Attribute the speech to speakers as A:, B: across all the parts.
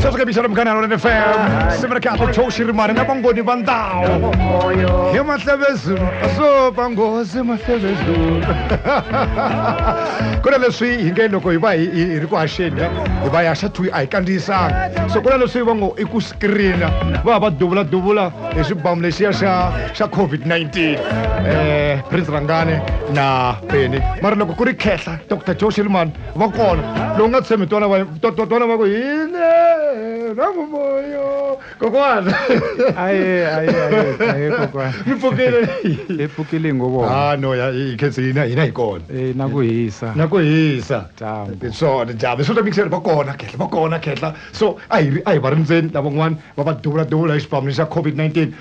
A: sasukabisana mukana lona fm simira kahle thoshi rimani na vangoni va ndhawu hi mahlevezulu so vangozi mahlevezulu ku na leswi hi nge loko hi va hi hi ri ku haxeni hi va hi haxa twi a hi kandziyisanga so ku na leswi va ngo i ku screena va va duvula duvula hi xibamu lexiya xa xa covid-19 um prince rangane na peni mara loko ku ri khehla dr joe shilman va kona lowu nga tshembi twana va twana va ku hile rangumoyo kokwana aye aye aye
B: kokwana mi pfukile hi
A: pfukile ngo vona ah
B: no ya hi khensi
A: hina hina hi kona eh na ku hisa na ku hisa dyambu
B: swona dyambu swo
A: mixer va kona khehla va kona khehla so a hi a hi va rindzeni lavan'wana va va duvula duvula hi xipamelo xa covid-19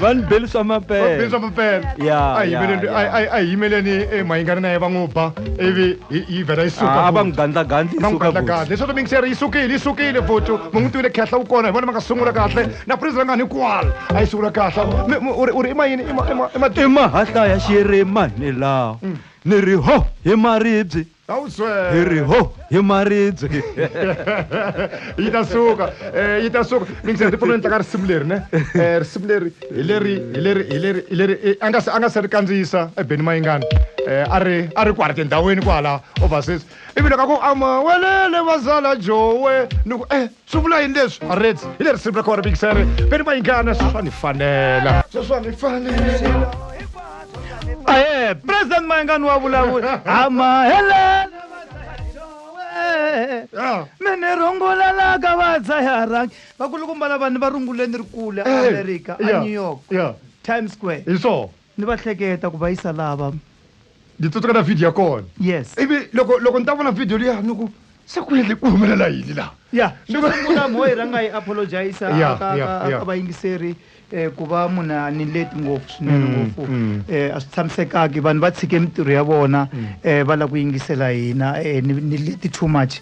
C: va ni beli swa mapele swa mapele a yimeleni
A: a yimeleni eh, mahingani na ye va n'wi ba ivi yi vhela yi suka ah, va n'wi gandlagandli va
C: n'wi gandlagandli leswaku
A: minkiseri yi sukile yi sukile futhi mu n'wi tivile khehla wu kona hi vona ma nga sungula kahle na prizira nga ni kwala a yi sungula kahle u ri i mayini i mahahlaya
C: xiyere mani lawa mm. ni ri ho hi maribye a wu swela hi ri ho hi maribye
A: yi ta suka um yi ta suka mi ngi se ndzi pfuna ni tlanga risimu leri ne um risimu leri hi leri hi leri hi leri hi leri eh, a nga se a nga se ri kandziyisa ebeni mayingani um a ri a ri kwala tindhawini kwala overseas ivi loko a ku amawelele vazala jowe ni ku e swi vula yini leswi reds hi le risimu ra kona mikisere veni va yingana sweswi va ni fanela sweswi va ni fanela
C: aye president mayengani wa vulavuli amahelela Yeah. me ni rungulelaka vadzayarangi vakulukumba lavani va runguleni ri kule Eh, amerika a yeah, new york yeah. times square hi swona Ni va
A: hleketa ku
C: va yisa lava. Ndzi tsutseka
A: na video ya kona. Yes. Ivi loko
C: loko ni ta
A: vona video liya ni ku se ku yini ku humelela yini laha. Ya xo sungula mo
C: yi rhanga yi apologize ka ka ka vayingiseri ku va munhu a ni leti ngopfu swinene ngopfu a swi tshamisekanga vanhu va tshike mintirho ya vona va lava ku yingisela hina ni leti too much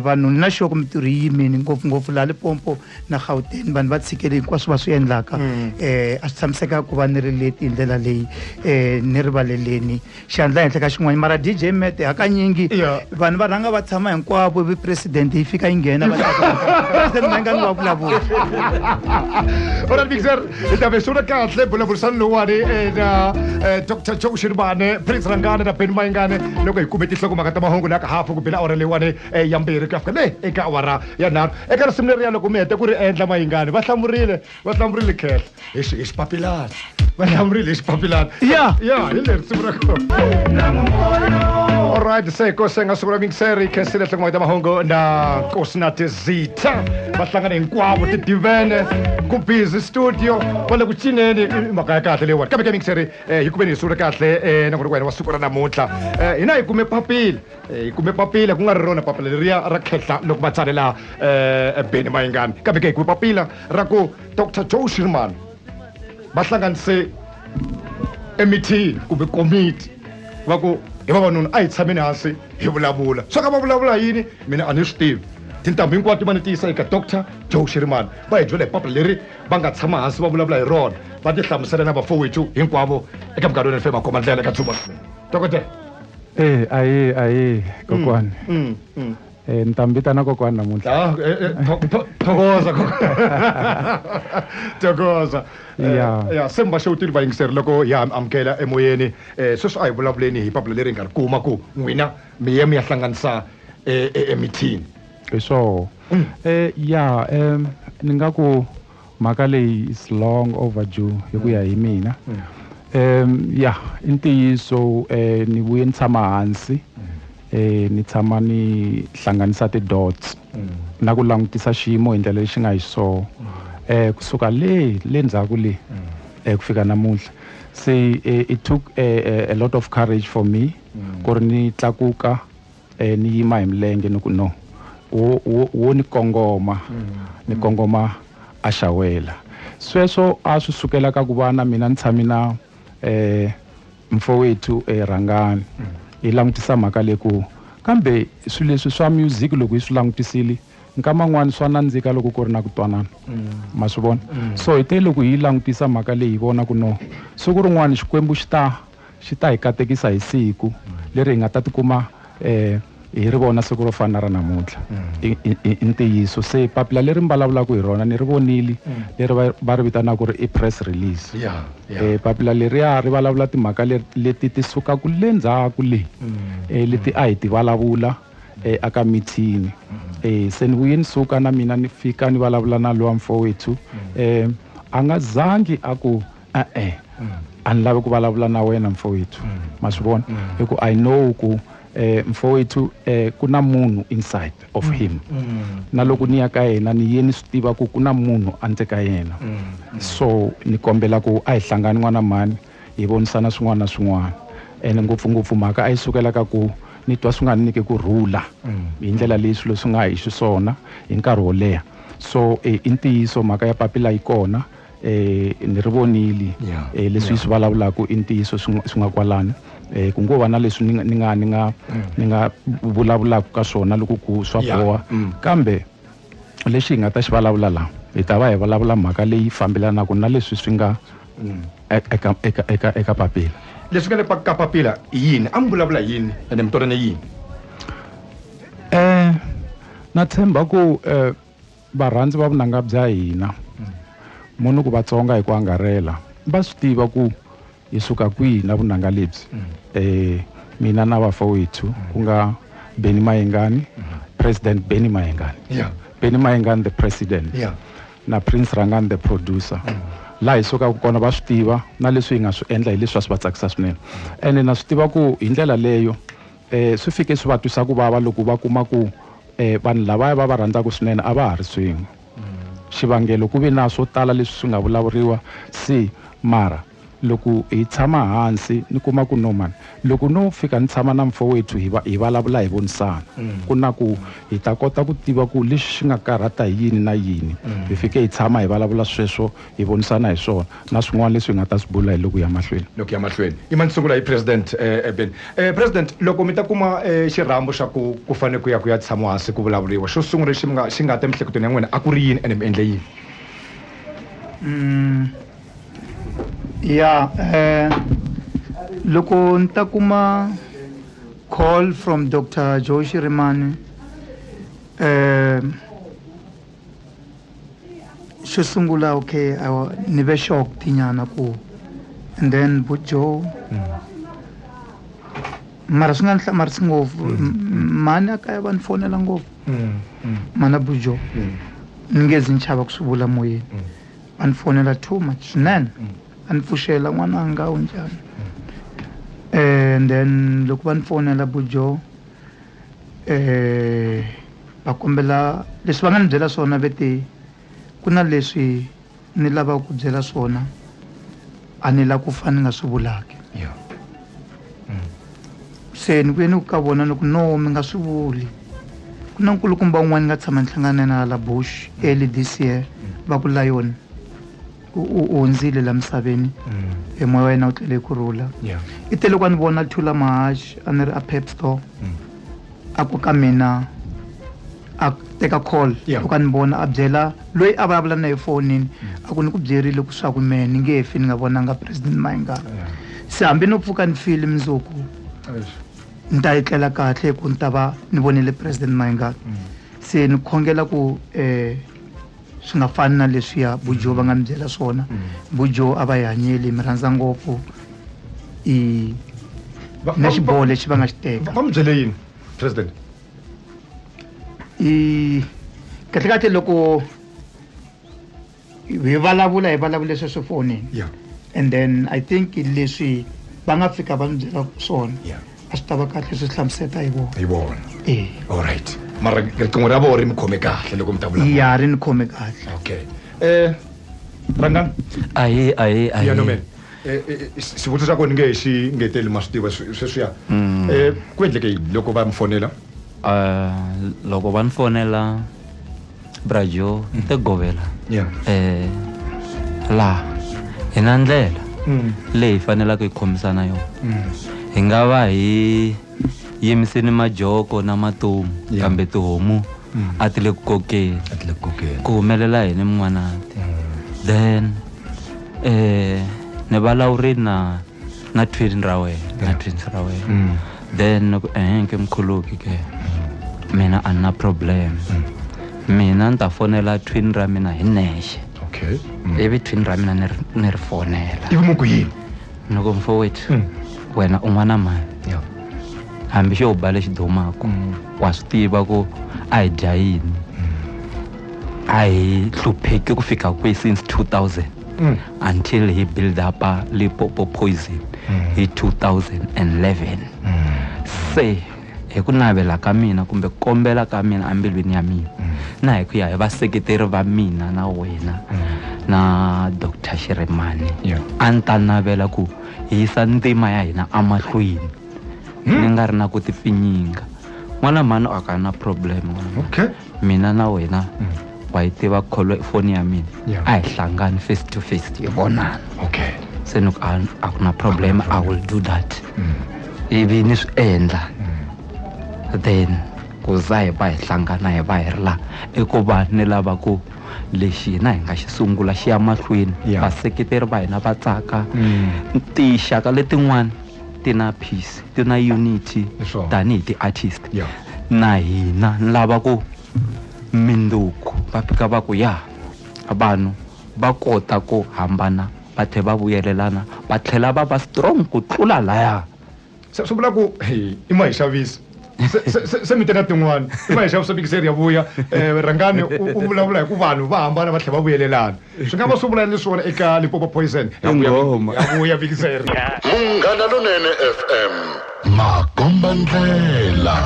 C: vanhu ni na xo ku mintirho yi yimile ngopfungopfu laha Limpopo. na gauteng vanhu va tshikele hinkwaswo va swi endlaka um a swi tshamiseka ku va ni ri leti hi ndlela leyi um ni rivaleleni xiandla henhla ka xin'wana mara d j mete hakanyingi vanhu va rhanga va tshama hinkwavo vi president yi fika yi nghena vaenga ni va vulavula ora mixer
A: hi ta ve swiona kahle vulavurisani lowuwani na eh, dr joe xiribane prince rangane na beni mayingane loko hi kume tinhlokomhaka ta mahungu laka hafu ku bela awara leyiwani eh, ya mbirhi ku ya fika le eka awara ya nharhu eka risimu leriya loko mi hete ku ri endla mayingani va hlamurile va hlamurile khehla hi xi- hi xipapilana va hlamurile hi xipapilana Ya. ya hi le risimu ra kona Alright, se ko senga sukura mingseri khesi le tlangwa ta mahungu na kosi na tizitha va hlangana hinkwavo ti divene ku busy studio va le ku cineni i i mhaka ya kahle leyiwani kambe ke mingseri eh, hi kumeni hi sungule kahle eh, na ku ri ku wena wa siku ra namuntlha Eh, hina hi kume papila Eh, hi kume papila ku nga ri rona papila leriya ra khehla loko va tsalela um beni mayingani kambe ke hi kume papila ra ku dr joe shirman va hlanganise emithini kumbe komiti va ku hi vavanuna a hi tshameni hansi hi vulavula swa ka va vulavula yini mina a ni swi tivi tintambu hinkwato va ni tiyisa eka dr joe shirman va hi byela hi papila leri va nga tshama hansi va vulavula hi rona va ti hlamusela na vafowetu hinkwavo eka minkarhi yo ni fe makhoma ndlela eka dzuba dokodela Eh, ahee
B: ahee kokwani Mm, mm. Eh, ni ta mi vitana kokwani namuntlha Ah, eh, eh, tho- tho- thokoza
A: thokoza Eh, Yeah. ya se mi va xewutile vayingiseri loko ya mi amukela emoyeni um sweswi a hi vulavuleni hi papila leri hi nga ri kuma ku n'wina mi ye mi ya hlanganisa eh, eh, emithini hi swoho
B: um ya um ni nga ku Mhaka leyi is long overdue hi ku ya hi mina. Um ya i ntiyiso um ni vuye ni tshama hansi um ni tshama ni hlanganisa ti-dots na ku langutisa xiyimo hi ndlela lexi nga hi swoho um kusuka le le ndzhaku le um ku fika namuntlha se it took a lot of courage for me ku ri ni tlakuka E, ni yima hi milenge ni ku, No, wo, wo, wo ni kongoma, ni kongoma a xawela. Sweswo a swi sukela ka ku va na mina ni tshame na e, Mfowethu e, Rhangani hi langutisa mhaka leyi ku, Kambe swilo leswi swa music loko hi swi langutisile, nkama un'wana swa nandzika loko ku ri na ku twanana. Ma swi vona? So hi te loko hi yi langutisa mhaka leyi hi vona ku, No, siku rin'wana Xikwembu xi ta Xi ta hi katekisa hi siku leri hi nga ta tikuma hi ri vona siku ro fana na ra namuntlha. I ntiyiso. Se papila leri mi vulavulaka hi rona ni ri vonile, leri va va ri vitanaka ku ri i press release. Papila leriya ri vulavula timhaka leti ti sukaka le ndzhaku le, leti a hi ti vulavula eka mithini. Se ni vuye ni suka na mina ni fika ni vulavula na luwa mfowethu, a nga zangi a ku. e-e a ni lavi ku vulavula na wena mfowethu ma swi vona hi ku i know ku um mfowethu um ku na munhu inside of him na loko ni ya ka yena ni ye ni swi tiva ku ku na munhu andzeni ka yena so ni kombela ku a hi hlangani n'wana mhani hi vonisana swin'wana na swin'wana ene ngopfungopfu mhaka a yi sukela ka ku ni twa swi nga ni nyike ku rhula hi ndlela leyi swilo swi nga hi xiswona hi nkarhi wo leha so i ntiyiso mhaka ya papila yi kona eh ni ri vonile yeah, eh leswi yeah. swi vulavulaka i ntiyiso swi nga kwalani eh ku ngo va na leswi ni nga ni nga ni nga mm. ni nga vulavulaka ka swona loko ku swa boha mm. kambe lexi hi nga ta xi vulavula la hi ta va hi vulavula mhaka leyi fambelanaka na leswi swi nga mm. e, eka eka eka eka papila leswi nga le ka
A: papila i yini a mi vulavula yini ene mi twanane yini eh
B: na tshemba ku eh Varhandzi va vunanga bya hina, mo ni ku Vatsonga hi ku angarhela, va swi tiva ku hi suka kwihi na vunanga lebyi. Mina na vafowethu ku nga Benny Mayengani, President Benny Mayengani, Benny Mayengani the President, na Prince Rhangani the Producer, laha hi sukaka kona va swi tiva na leswi hi nga swi endla hi leswi a swi va tsakisa swinene ene na swi tiva ku hi ndlela leyo, Swi fike swi va twisa ku vava loko va kuma ku vanhu lavaya va va rhandzaka swinene a va ha ri swin'we. Xivangelo ku ve na swo tala leswi swi nga vulavuriwa si mara loko hi tshama hansi ni kuma ku no mani loko no fika ni tshama na mfowethu hi va hi vulavula hi vonisana ku na ku hi ta kota ku tiva ku lexi xi nga karhata hi yini na yini hi fike hi tshama hi vulavula sweswo hi vonisana hi swona na swin'wana leswi hi nga ta swi bula hi loku ya mahlweni. Loku ya mahlweni. Ima ni
A: sungula hi President Eben. President, loko mi ta kuma xirhambo xa ku ku fane ku ya ku ya tshamiwa hansi ku vulavuriwa, xo sungula lexi mi nga xi nga ta emiehleketweni ya n'wina a ku ri yini ene mi endle yini? Ya,
C: loko ni ta kuma call from Doctor Joe Shirimani xo sungula okay awa ni ve shocked nyana ku and then bo joe mara swi nga ni hlamarisi ngopfu mhani a kaya va ni fonela ngopfu mana bo joe ni nge zi ni chava ku swi vula moyeni va ni fonela too much swinene a ni pfuxela n'wananga u njhani and then loko va ni fonela bo joe um va kombela leswi va nga ni byela swona ve te ku na leswi ni lavaka ku byela swona a ni la ku fa ni nga swi vulaki se ni vuye ni ku ka vona ni ku no mi nga swi vuli ku na nkulukumba un'wana ni nga tshama ni hlangana na yena hala bush early this year va ku lion u u hundzile la misaveni e moya wa yena wu tlele ku rhula Yeah. i te loko a ni vona thula mahaxi a ni ri a pep store a ku ka mina a teka call Yeah. loko a ni vona a byela loyi a vulavula na ye fonini a ku ni ku byerile ku swaku mehe ni nge fi ni nga vonanga president mayingana Yeah. se hambi no pfuka ni file mundzuku Eish. ni ta etlela kahle ku ni ta va ni vonile president mayingana se ni khongela ku um swi nga fani na leswiya bujo va nga mi byela swona bujo a va yi hanyeli mi rhandza ngopfu i na xiboho lexi va nga xi teka va mi byele yini
A: president i
C: kahlekahle loko hi vulavula hi vulavule sweswi fonini and then i think leswi va nga fika va mi byela swona a swi ta va kahle swi hlamuseta hi vona hi vona e allright
A: mara riqingho ra vona ri mi khome kahle loko mi ta vula ya ri ni khome kahle
C: okay um
A: rangani ahe
D: ahe ahe Eh, eh, eh,
A: xivutiso xa kona nge xi ngeteli ma swi tiva sweswiya um ku endleke yini loko va mi fonela
D: loko va ni fonela brajo mm. te govela yeah. eh, laha hi na ndlela mm. leyi hi fanelaka hi khomisana yona mm. hi nga va hi yimiseni majoko na matomu yeah. kambe tihomu mm. a ti le ku kokeni ku humelela yini min'wanati mm. then eh, ni valawurini na ngathwini ra wena ngathwini ra wena mm. then ku ehenke mkhuluki ke mina a ni na problem mina ni ta fonela twin ra mina hi nexe okay mm.
A: ivi twin ra mina
D: ni ri fonela ivi mu ku yini
A: ni ku mfowethu
D: mm. wena u n'wana mani hambi xo ba lexi dumaku mm. wa swi tiva ku a hi dya yini a hi hlupheki ku fika kwihi since 2000 mm. until he build up a lipopo poison mm. hi 2011 mm. se hi ku navela ka mina kumbe ku kombela ka mina embilwini ya mina mm. na hi ku ya hi vaseketeri va mina na wena mm. na dr xiremani yeah. a ni ta navela ku hi yisa ntima ya hina emahlweni mm. ni nga ri na ku tipfinyinga n'wana mhani a ka na problem okay.
A: mina na wena
D: mm. wa yi tiva kholo foni ya mina yeah. a hi hlangani face to face hi vonana okay. se ni
A: a,
D: a ku na problem i will do that mm. ivi ni swi endla mm. then ku za hi va hi hlangana hi va hi ri laha i ku va ni lava ku lexi hina hi nga xi sungula xi ya mahlweni vaseketeri va hina va tsaka mm. tinxaka letin'wana ti na peace ti na unity tanihi ti-artist yeah. na hina ni lava ku mindzuku va fika va ku ya vanhu va kota ku hambana va tlhe va vuyelelana va tlhela va va strong ku tlula laya se swi vula
A: ku hey, i ma hi xavisa se mi teka tin'wana i ma hi xavisa mikiseri ya vuya um rhangani u vulavula hi ku vanhu va hambana va tlhela va vuyelelana swi nga va swi vula ni swona eka lipopo poison yavuya vikiseri munghana
E: lonene fm makomba ndlela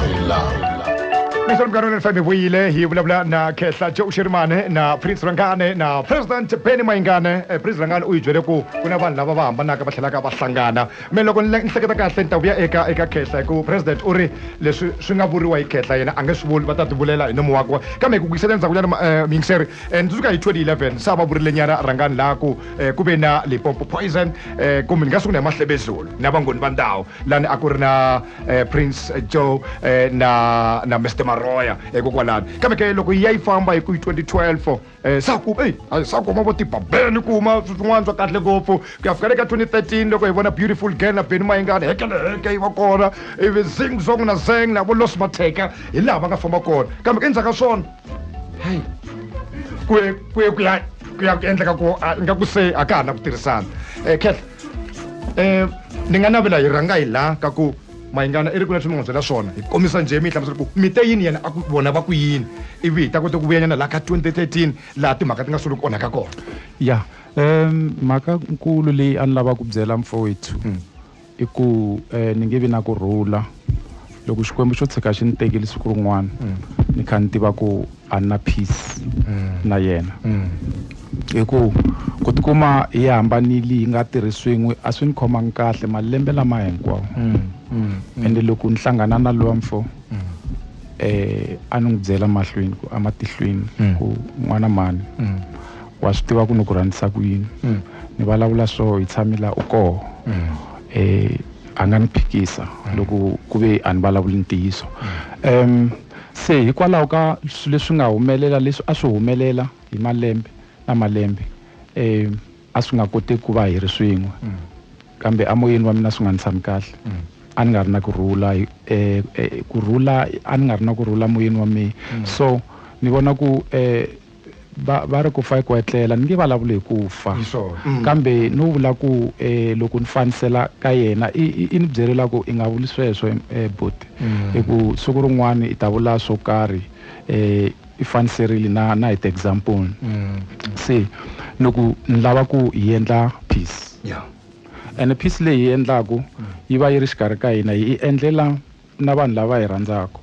E: leswi
A: mugano ni fm vuyile hi vulavula na khehla jo uxirimane na prince rangane na president benny mayingane eh, prince rangane u yi byele ku ku na vanhu lava va hambanaka va tlhelaka va hlangana me loko ni hleketa kahle ni ta vuya eka eka khehla hi ku president u ri leswi swi nga vuriwa hi khehla yena a nge swi vuli va ta tivulela hi nomo wakwe kambe hi ku kuyisela endzhakunyana eh, miyingiseri and suka hi 2011 sa va vurilenyana rhangani laha ku eh, ku ve na limpopo poison eh, kumbe ni nga sungula hi mahlebezulu na vangoni va ndhawu lani a ku ri na eh, prince joe eh, na na mr maroya hikokwalani eh, kambe ke loko yi ya yi famba hi ku hi 2012 eh, sa ku ei a- sa kuma vo tibabeni kuma swin'wana swa kahle ngopfu ku ya fika le ka 2013 loko hi vona beautiful girl na beni mayingani hekeleheke yi va kona ivi zing zong na zeng na vo los mateka hi laha va nga famba kona kambe ke endzhaku ka swona hayi ku ye ku ye ku ya ku ya ku endleka ku a- ingaku se a ka ha na ku tirhisana um kehla um ni nga navela hi rhanga hi laha ka ku mayingana i ri ku leswi mi n'wi byela swona hi kombisa njhe mi yi hlamusela ku mi te yini yena a ku vona va ku yini ivi hi ta kota ku vuyanyana laha ka 2013 laha timhaka ti nga solo ku onhaka kona ya um mhaka
B: nkulu leyi a ni lava ku byela mfowethu I ku ni nge vi na ku rhula loko Xikwembu xo tshika xi ni tekile siku rin'wana ni kha ni tiva ku a ni na peace na yena hi ku ku tikuma hi hambanile hi nga tirhi swin'we a swi ni khomangi kahle malembe lama hinkwawo ende loko ni hlangana na luwa mfo a ni n'wi byela mahlweni ku ematihlweni ku n'wana mhani. wa swi tiva ku ni ku rhandzisa ku yini mm. ni vulavula so hi tshami la u koho mm. eh, a nga ni phikisa mm. loko ku ve a ni vulavuli ntiyiso um se hikwalaho ka swilo leswi nga humelela leswi a swi humelela hi malembe na malembe um a swi nga koti ku va hi ri swin'we kambe amoyeni wa mina swi nga ni tshami kahle a ni nga ri na ku rhula um eh, eh, ku rhula a ni nga ri na ku rhula moyeni wa mina so ni vona ku um Va, va ri ku fa i ku etlela. Ni nge valavuli hi ku fa, Hi swona. Mm. kambe no vula ku eh, loko ni fanisela ka yena, i, i, i ni byerile ku i nga vuli sweswo em, eh, buti, hi ku siku rin'wana i ta vula swo karhi eh, i faniserile na, na hi ti-example. Se ni ku ni lava ku hi endla peace, Yeah. ene peace leyi hi yi endlaku yi va yi ri xikarhi ka hina, hi yi endlela na vanhu lava hi rhandzaka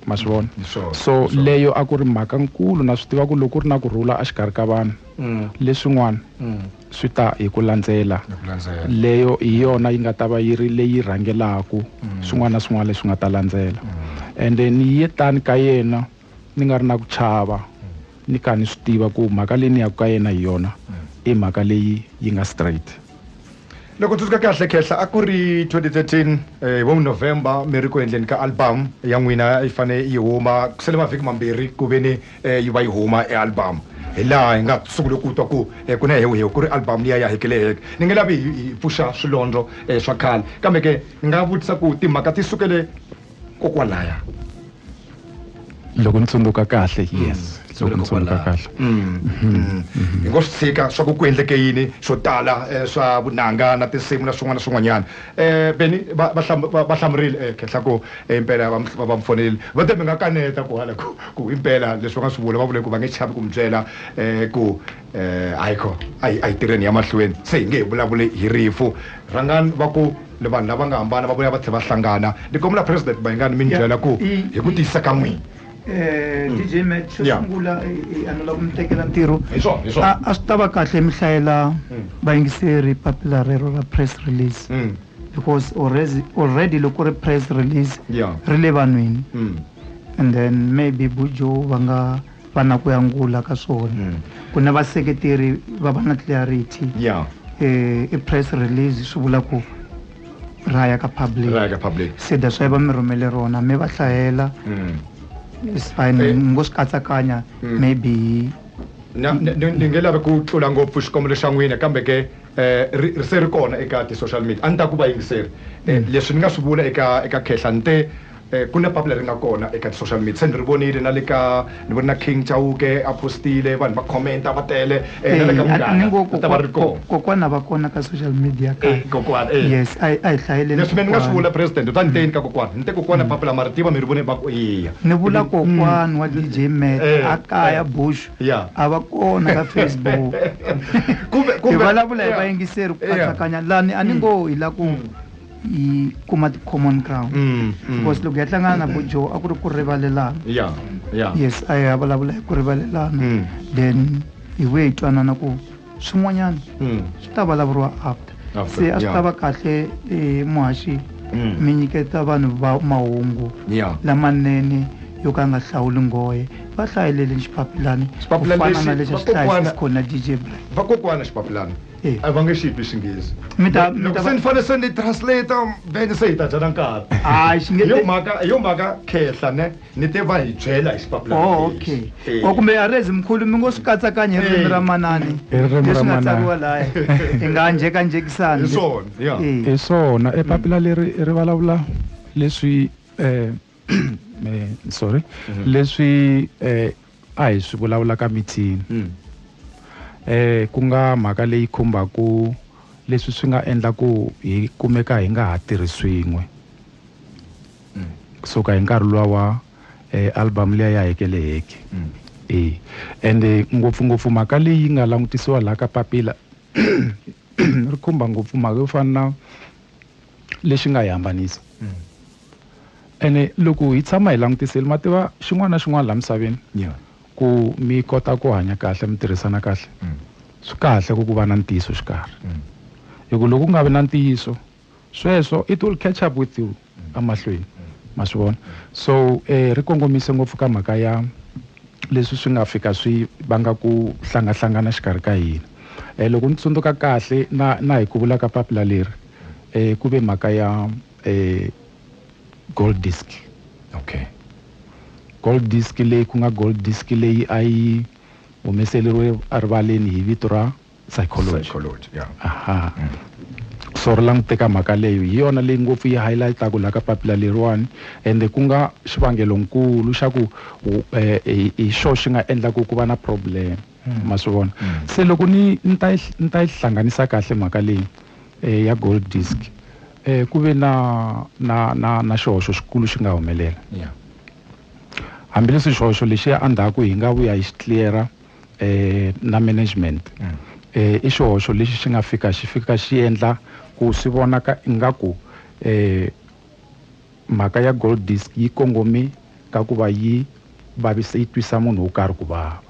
B: ma swi vona mm, so, so leyo a ku ri mhaka nkulu na swi tiva ku loko ku ri na ku rhula exikarhi ka vanhu mm. leswin'wana mm. swi ta hi ku landzela leyo hi yona yi nga ta va yi ri leyi rhangelaka swin'wana na swin'wana leswi nga ta landzela ende ni ye tani ka yena ni nga ri na ku chava ni kha ni swi tiva ku mhaka leyi ni yaka ka yena hi yona i mhaka leyi yi nga straight loko
A: tsundzuka kahle khehla a ku ri 2013 eh, hi vo november mi ri ku endleni ka album ya n'wina yi fane yi huma ku sele mavhiki mambirhi ku ve ni eh, yi va yi huma e album hi laha hi nga sungule ku twa ku eh, ku na hehuhehu ku ri album liya ya hekeleheke ni nge lavi hi hi pfuxa swilondlo eh, swa khale kambe ke ni nga vutisa ku timhaka ti sukele kokwalaya
B: loko ni tsundzuka kahle mm. yes loko ni tsundzuka kahle mm.
A: Mm. hi ngo swi tshika swa ku ku endleke yini swo tala eh, swa vunanga na tinsimu na swin'wana na swin'wanyana um eh, beni va hlamurile eh, khenhla ku impela va mi fonelile va te mi nga kaneta ku hala ku impela leswi va nga swi vula va vule ku va nge chavi ku mi byela um ku um hayi kho a hi a hi tirheni ya mahlweni se hi nge hi vulavuli hi rifu rhangani va ku ni vanhu lava nga hambana va vuya va tlhela va hlangana ni kombela president mayingani mi ni byela ku hi ku tiyisa ka n'wina um dj
C: mat xo Yeah. sungula eh, eh, a ni lava ku mi tekela ntirho hi swona hi swona a a
A: swi ta va kahle
C: mi hlayela vayingiseri papila rero ra press release Mm, because already, already loko ri press release yeah ri le vanhwini mm. and then maybe bujo va nga va na ku yangula ka swona mm. ku na vaseketeri va va na clarity yeah. eh, i press release swi vula ku ra ya ka public se that's why va mi rhumele rona mi va hlayela mm. is fine eh. ngo swi katsakanya mm. maybe
A: ni nge lavi ku tlula ngopfu xikombelo xa n'wina kambe ke eh, ri se ri kona eka ti-social media a ni ta ku va yingiseri eh, mm. leswi ni nga swi vula eka eka khehla ni te Ku na papila ri nga kona eka ti-social media se ni ri vonile na le ka ni vone na King Chauke a post-ile vanhu va comment-a va tele na le ka Munghana ri ta va ri kona. Eya kokwana va kona ka
C: social media ka hina. Kokwana eya. Yes
A: a hi a hi
C: hlayeleni kokwana. Leswi mehe ni nga swi vula President
A: u ta ni teni ka kokwana ni te kokwana papila ma ri tiva mi ri vone va ku eya. Ni vula kokwana
C: wa DJ Mac a kaya Bushu a va kona ka Facebook hi vulavula hi vayingiseri ku katsakanya lani a ni ngo hi la ku. yi kuma ti-common ground mm, mm. because loko ya hlangana na bojo a ku ri ku rivalelana yeah, yeah. yes a ya vulavula hi ku rivalelana mm. then hi vuye hi twanana ku swin'wanyana mm. swi ta vulavuriwa after se a swi ta va kahle eh, muhaxi mm. mi nyiketa vanhu va mahungu lamanene yo ka nga hlawuli nghohe va hlayelele xipapilani ku fana na lexi a xi hlayisa xikona dj black vakokwana xipapilani
A: Eh. a va nge xi twi xinghezi Mi ta- mi loko ta va- se ni fanele se ni translate then se hi ta dyana nkarhi Hayi, xi nge- Hi yo mhaka hi yo mhaka khehla ne ni te va hi byela hi xipapila Oh, okay. Eh. O
C: kumbe arezi mkhulu mi ngo swi katsakanya hi ririmi Eh. ra manani. Hi ririmi ra Leswi nga manana. tsariwa laya. Hi nga njhekanjhekisani. Hi swona, yeah. Eh. hi
B: swona epapila leri ri vulavula leswi eh, eh, sorry leswi eh, A hi swi vulavula ka meeting. Ku nga mhaka leyi khumbaka leswi swi nga endla ku hi kumeka hi nga ha tirhi swin'we ku suka hi nkarhi luwa wa album liya ya heke le heke. E ende ngopfungopfu mhaka leyi nga langutisiwa laha ka papila ri khumba ngopfu mhaka yo fana na. lexi nga hi hambanisa mm. ene loko hi tshama hi langutisile ma tiva xin'wana na xin'wana laha misaveni yeah. ku mi kota ku hanya kahle mi tirhisana kahle mm. swi kahle ku ku va na ntiyiso xikarhi mm. hi ku loko ku nga vi na ntiyiso sweswo it will catch up with you mm. emahlweni mm. ma swi vona so um eh, ri kongomise ngopfu ka mhaka ya leswi swi nga fika swi vanga ku hlangahlangana xikarhi ka hina. E, loko ni tsundzuka kahle na, na hi ku vula ka papila leri, e, ku ve mhaka ya e, gold disk. Okay. Gold disk leyi ku nga gold disk leyi a yi humeseleriwe erivaleni hi vito ra. psychology, psychology yeah. aha mm. so ri languteka mhaka leyo hi yona leyi ngopfu yi highlightaku laha ka papila leriwani ende ku nga xivangelonkulu xa ku eh, hi xo xi nga endlaku ku va na problem mm. ma swi vona mm. se loko ni ni ta ni ta yi hlanganisa kahle mhaka leyi eh, ya gold disk eh, ku ve na na na na xihoxo xikulu xi nga humelela yeah. hambileswi xihoxo lexiya endzhaku hi nga vuya hi xi cleara eh, na management mm. eh, i xihoxo lexi xi nga fika xi fika xi endla ku swi vonaka ingaku eh, mhaka ya gold disk yi kongome ka ku va yi vavisa yi twisa munhu wo karhi ku vava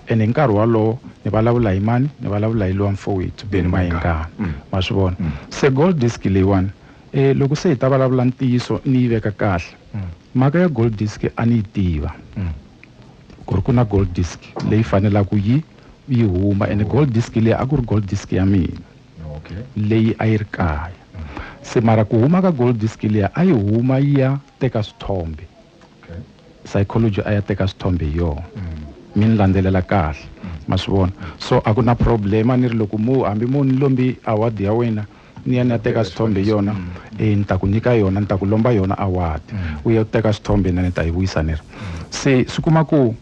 B: and hi nkarhi wolowo ni vulavula hi mani ni vulavula hi lowa mfowethu beni mayengana mm. ma swi vona mm. se gold disk leyiwani um loko se hi ta vulavula ntiyiso ni yi veka kahle mm. mhaka ya gold disk a ni yi tiva ku ri ku na gold disk leyi fanelaka yi yi huma ene gold disk leyi a ku ri gold disk ya mina leyi a yi ri kaya se mara ku huma ka gold disk leyi a yi huma yi ya teka swithombe psychology a ya teka swithombe hi yona mi ni landzelela kahle ma swi vona so a ku na problem a ni ri loko mo hambi mo ni lombi award ya wena ni ya ni ya teka swithombe yona e ni ta ku nyika yona ni ta ku lomba yona award u ya teka swithombe na ni ta yi vuyisa ni ri se swi kuma ku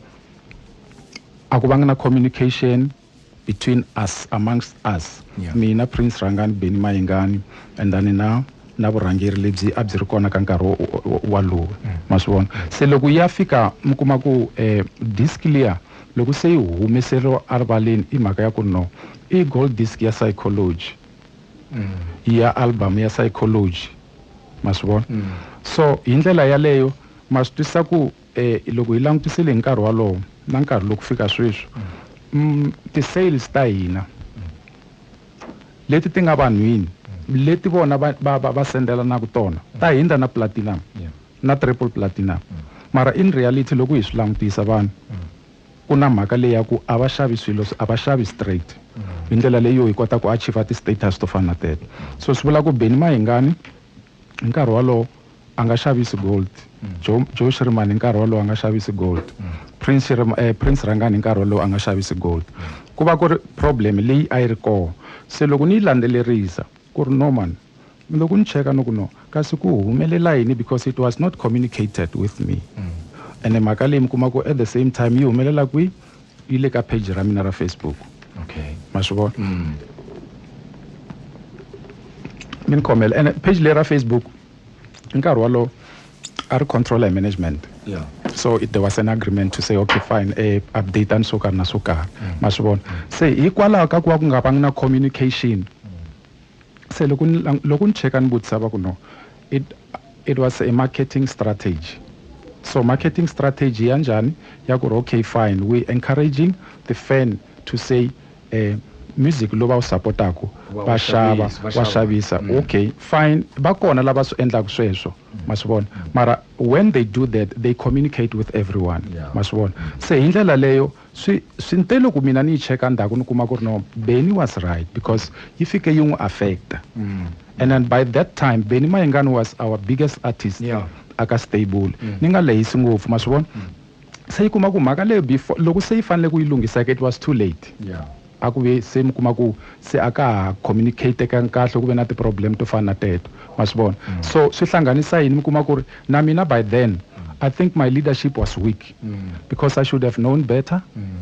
B: a ku vanga na communication between us amongst us yeah. mina prince rangani beni mayingani and then na na vurhangeri lebyi a byi ri kona ka nkarhi walowo mm. ma swi vona se loko ya fika mi kuma ku eh, disk liya loko se yi humeseriwa erivaleni i mhaka ya ku no i gold disk ya psychology ya album ya psychology ma swi vona mm. so hi ndlela yaleyo ma swi twisisa ku eh, loko hi langutisile hi nkarhi walowo na nkarhi loku fika sweswi mm, ti-sales ta hina leti ti nga vanhwini leti vona va, va, va, va sendelanaku tona ta hindza na platinum yeah. na triple platinum mm. mara in reality loko hi swi langutisa vanhu mm. Ku na mhaka leyi ya ku a va xavi swilo, a va xavi straight. Hi ndlela leyi hi kota ku achiever ti status to fana na teto. So swi vula ku Benny Mayengani hi nkarhi wolowo a nga xavisi gold, Joe Joe Shirimani hi nkarhi wolowo a nga xavisi gold, Prince Prince Rhangani hi nkarhi wolowo a nga xavisi gold. Ku va ku ri problem leyi a yi ri kona. Se loko ni yi landzelerisa. Ku ri, No man. Ni lo ku ni cheka ni ku, No. Kasi ku humelela yini because it was not communicated with me. Ene mhaka leyi mi kuma ku at the same time yi humelela kwihi? Yi le ka page ra mina ra Facebook. Okay. Ma swi vona? Mi ni khomela. Ene page leyi ra Facebook. hi nkarhi wolowo a ri controller hi management yeah. so there was an agreement to say okay fine eh, updateani swo karhi na swo karhi mm. ma swi vona se hikwalaho ka ku va ku nga vangi na communication se loko loko ni cheka ni vutisa va ku no it, it was a marketing strategy so marketing strategy ya njhani ya ku ri okay fine we encouraging the fan to say music lowu va wu support-aku va xava wa xavisa mm. okay fine va kona lava swi endlaka sweswo mm. ma swi vona mm. mara when they do that they communicate with everyone ma swi vona se hi ndlela leyo swi swi nte loko mina ni yi cheka ndzhaku ni kuma ku ri no beni was right because yi fike yi n'wi affecta and then by that time beni mayingani was our biggest artist aka stable ni nga lehisi ngopfu ma swi vona se yi kuma ku mhaka leyo before loko se yi fanele ku yi lunghisa it was too late yeah. a ku ve se mi kuma ku se a ka ha communicatekangi kahle ku ve na ti-problem to fana na teto ma swi vona mm. so swi hlanganisa yini mi kuma ku ri na mina by then mm. i think my leadership was weak mm. because i should have known better mm.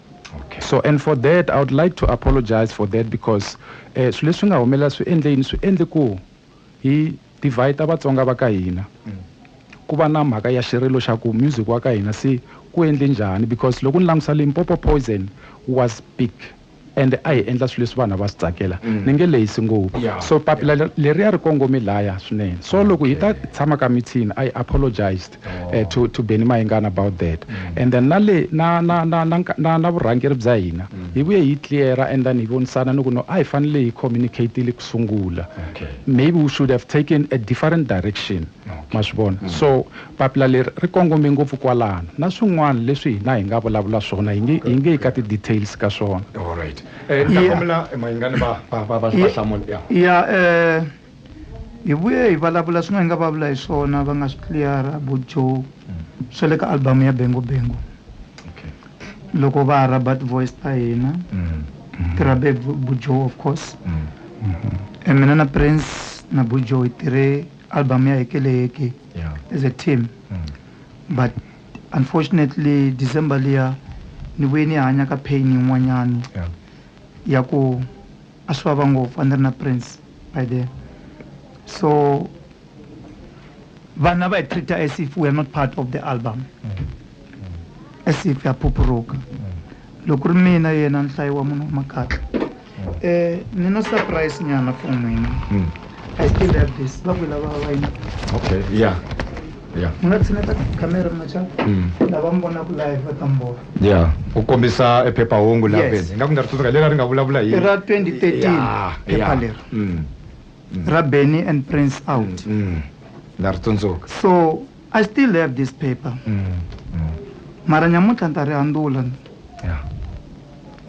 B: okay. so and for that i would like to apologize for that because eh, swilo leswi nga humelela swi endle yini swi endle ku hi divide ta vatsonga va ka hina mm. ku va na mhaka ya xirilo xa ku music wa ka hina se ku endle njhani because loko ni langutisa limpopo poison was big and a hi endla swilo leswi vanhu va swi tsakela mm. ni nge lehisi ngopfu so papila leriya ri kongome laya swinene so loko hi ta tshama ka mithini i apologized oh. eh, to, to beni mayingana about that mm. and then na le na na na na, na, na vurhangeri bya hina mm. hi vuye hi cleara and then hi vonisana ni ku no a hi fanele hi communicatile ku sungula okay. maybe we should have taken a different direction okay. ma swi vona mm. so papila leri ri kongome ngopfu kwalano na swin'wana leswi hina hi nga vulavula swona hi nge hi nge yi ka ti-details ka swona eh,
C: ya eh, Hi vuye hi valavula swin'we hi nga va vula hi swona va nga swi tliyara vo Joe swa le ka album ya Bengo Bengo loko va ha rhaba ti-voice ta hina ti rhabe hi vu- vu Joe of course e mina na Prince na vu Joe hi tirhe album ya Heke le Heke as a team but unfortunately December liya ni vuye ni hanya ka pain yin'wanyani ya ku A swi vava ngopfu a ni ri na Prince by then so vanhu a va hi treat-a as if we are not part of the album as if ha phuphuruka loko ku ri mina yena nhlayo wa munhu wa makatla um ni na surprise nyana for n'wina i still have this va ku lava va yini
A: okay yeah yeah ni nga
C: tshineta camera machaka lava mi vonaka live va ta mi vona ya u
A: kombisa e phephahungu la yes. ingaku ni nga ri tsundzuka leri a ri
C: nga
A: vulavula hi ra 2013
C: phepha leri mm. mm. ra benny and prince mm, out mm. mm. na ri
A: tsundzuka so
C: i still have this paper mm. Mm. mara nyamuntlha ni ta ri handula yeah.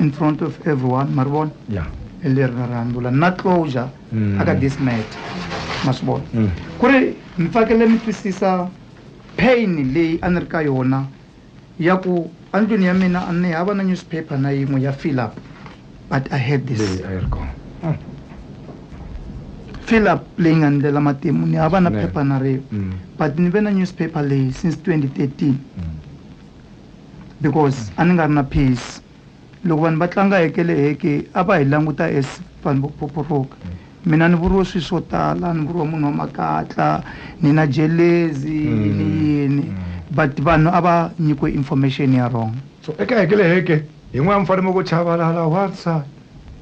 A: in
C: front of everyone ma ri vona yeah. leri
A: ra ri handula
C: na closure mm. aka this matter ma swi vona mm. ku ri mi fakele mi twisisa pain leyi a ni ri ka yona Ya ku, Endlwini ya mina a ni hava na nyuziphepha na yin'we ya Philip, but I had this. Leyi a yi ri kona. Philip leyi nga ni ndlela matimu, ni hava na Nene. phepha na rin'we, Mm. but ni ve na nyuziphepha leyi since 2013 because a ni nga ri na peace. Loko vanhu va tlanga heke le heke a va hi languta as vanhu vo phoporoka mina ni vuriwe swilo swo tala ni vuriwa munhu wa makatla ni na jelezi ni hmm. yini hmm. but vanhu a va nyikiwe information ya wrong so eka heke le
A: heke yin'wana mi fanele mi ku chavalala one side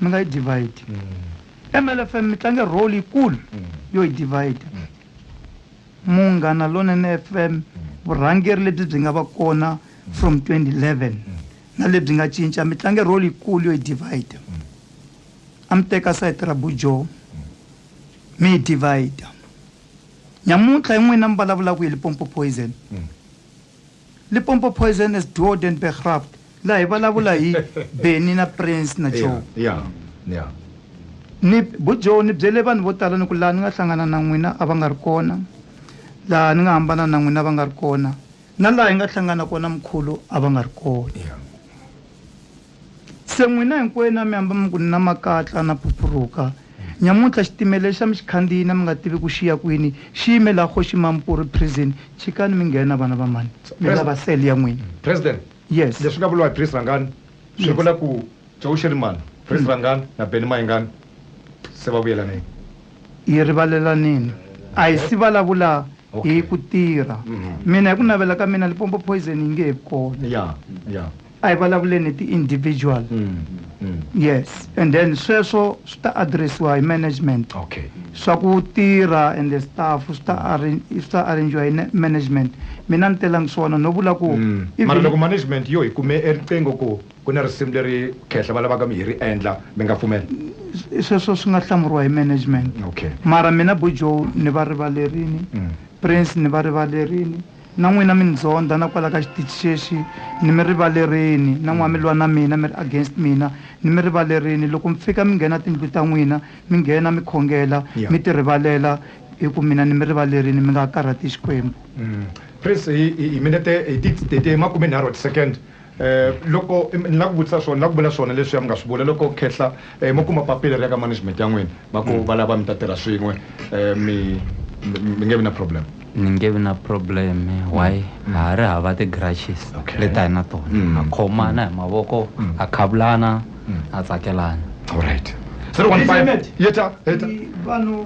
C: mi nga yi divide mlfm mi tlange role yikulu yo yi divide munghana lonene fm vurhangeri lebyi byi nga va kona from 2011 na lebyi nga cinca mi tlange role yikulu yo yi divide a mi teka sayiti ra bujo mi yi divide nyamuntlha hi n'wina mi vulavulaka hi lipompo poison Limpopo Poison as Duo den Begraft laha hi vulavula hi Benny na Prince na Joe. Yeah, yeah. Ni bu Joe ni byele vanhu vo tala ni ku laha ni nga hlangana na n'wina a va nga ri kona laha ni nga hambana na n'wina va nga ri kona na laha hi nga hlangana kona mkhulu a va nga ri kona. Se n'wina hinkwenu a mi hamba mi ku, Ni na makatla, na phuphuruka. Nyamuntlha xitimela lexa mi xi khandziyini a mi nga tivi ku xi ya kwini, xi yime laha Kgoxi Mampuru Prison. Chikani mi nghena, vana va mhani. Mi lava cell ya n'wina. President, Yes.
A: leswi nga vuriwa
C: hi Prince Rhangani
A: swi Yes. vula ku Joe Shirimani, Prince Rhangani na Benny Mayengani se va vuyelanile. Hi
C: rivalelanile. A hi si vulavula hi ku tirha. Mina hi ku navela ka mina Limpopo Poison yi nge he vi kona. Ya, ya.
A: a hi vulavuleni
C: hi ti-individual yes and then sweswo swi ta addressiwa hi management okay swa ku
A: tirha
C: and the staff swi ta arran- swi ta arrangiwa hi ne- management mina ni telangi swona no vula ku Mm. even- mara loko management
A: yo hi kume eriqingho ku ku na risimu leri khehla va lavaka mi hi ri endla mi nga pfumela sweswo swi
C: nga hlamuriwa hi management okay mara mina
A: bujo
C: ni va rivalerini Mm. prince ni va rivalerini Na n'wina mi ni ndzondha na kwala ka xitichi xexi, ni mi rivalerini, na n'wa mi lwa na mina, mi ri against mina, ni mi rivalerini. Loko mi fika mi nghena tindlu ta n'wina, mi nghena mi khongela, mi ti rivalela, hi ku mina ni mi rivalerini, mi nga ha karhati Xikwembu. Please,
A: hi hi minete, hi ti, hi ti makumenharhu wa ti-second. Loko ni la ku vutisa swona, ni la ku vula swona leswiya mi nga swi vula. Loko khehla mo kuma papila ri ya ka management ya n'wina, va ku va lava mi ta tirha swin'we, mi mi nge vi na problem? Ni nge vi na
D: problem. Why? Ha ha ri hava ti grudges leti a hi na tona. Ha khomana hi mavoko, ha khavulana, ha tsakelana. Alright.
A: President, vanhu.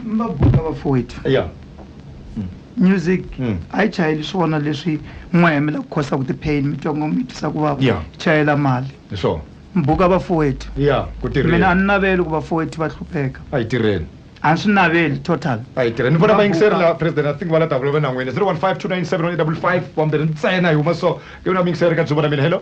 C: mabutla vafowethu ya music Mm. a yi chayeli swona leswi n'wa hemela ku khosa ku ti-pain mi twa ngo mi twisa ku vava Yeah. chayela mali hi swona mbuka
A: vafowethu
C: ya ku mina a tirheni
A: ni naveli ku
C: vafowethu va hlupheka a yi tirheni
A: a ni swi naveli
C: total a yi tirheni ni vona Va vayingiseri
A: buka. la president i think va la davula va nan'wini 0152971855 wambirhi ntsena hi huma so ke vona vayingiseri ka dzuva na mina hello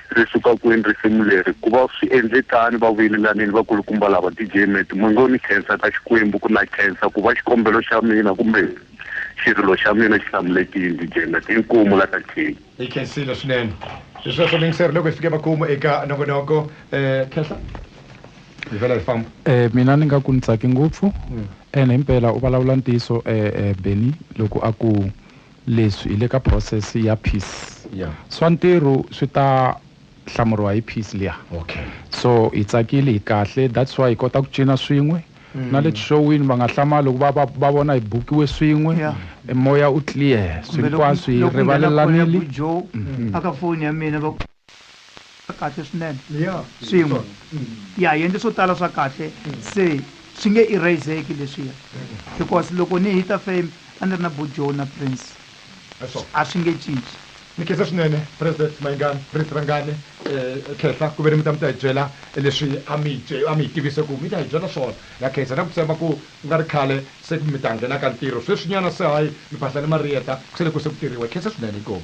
E: Ri suka kwini risimu leri? Ku va swi endle tani, va vuyelelanile vakulukumba lava, DJ Meti Mwenge u ni khensa ka Xikwembu ku na khensa ku va xikombelo xa mina kumbe xirilo xa mina xi hlamulekile, DJ Meti inkomu la ka King. Hi khensile swinene
A: hi sweswo muyingiseri loko hi fike makumu eka nongonoko Khehla hi vhela hi famba. Mina ni nga ku ni
B: tsake ngopfu ene himpela u valavula ntiyiso Bennie loko a ku Leswi hi le ka process ya piece swa ntirhu swi ta hlamuriwa hi piece liya so
A: hi tsakile
B: hi kahle that's why hi kota ku cina swin'we na le tixowini va nga hlamali loko va va va vona hi bukiwe swin'we moya
C: u clear
B: swi hinkwaswo hi rivalelanile.
C: kahle swinene swin'we ya hi endle swo tala swa kahle se swi nge eraseki leswiya because loko ni hita fame a ni ri na bojo na prince a
A: swi nge cinci
C: ni khensa swinene
A: president mayingani prince rangani um khehla ku ve ni mi ta mi ta hi byela leswi a mi a mi hi tivise ku mi ta hi byela swona na khensa na ku tshemba ku ku nga ri khale se mi ta nghenaka ntirho sweswinyana se hayi mi phahla ni mariyeta ku se le ku se ku tirhiwa hi khensa swinene inkomu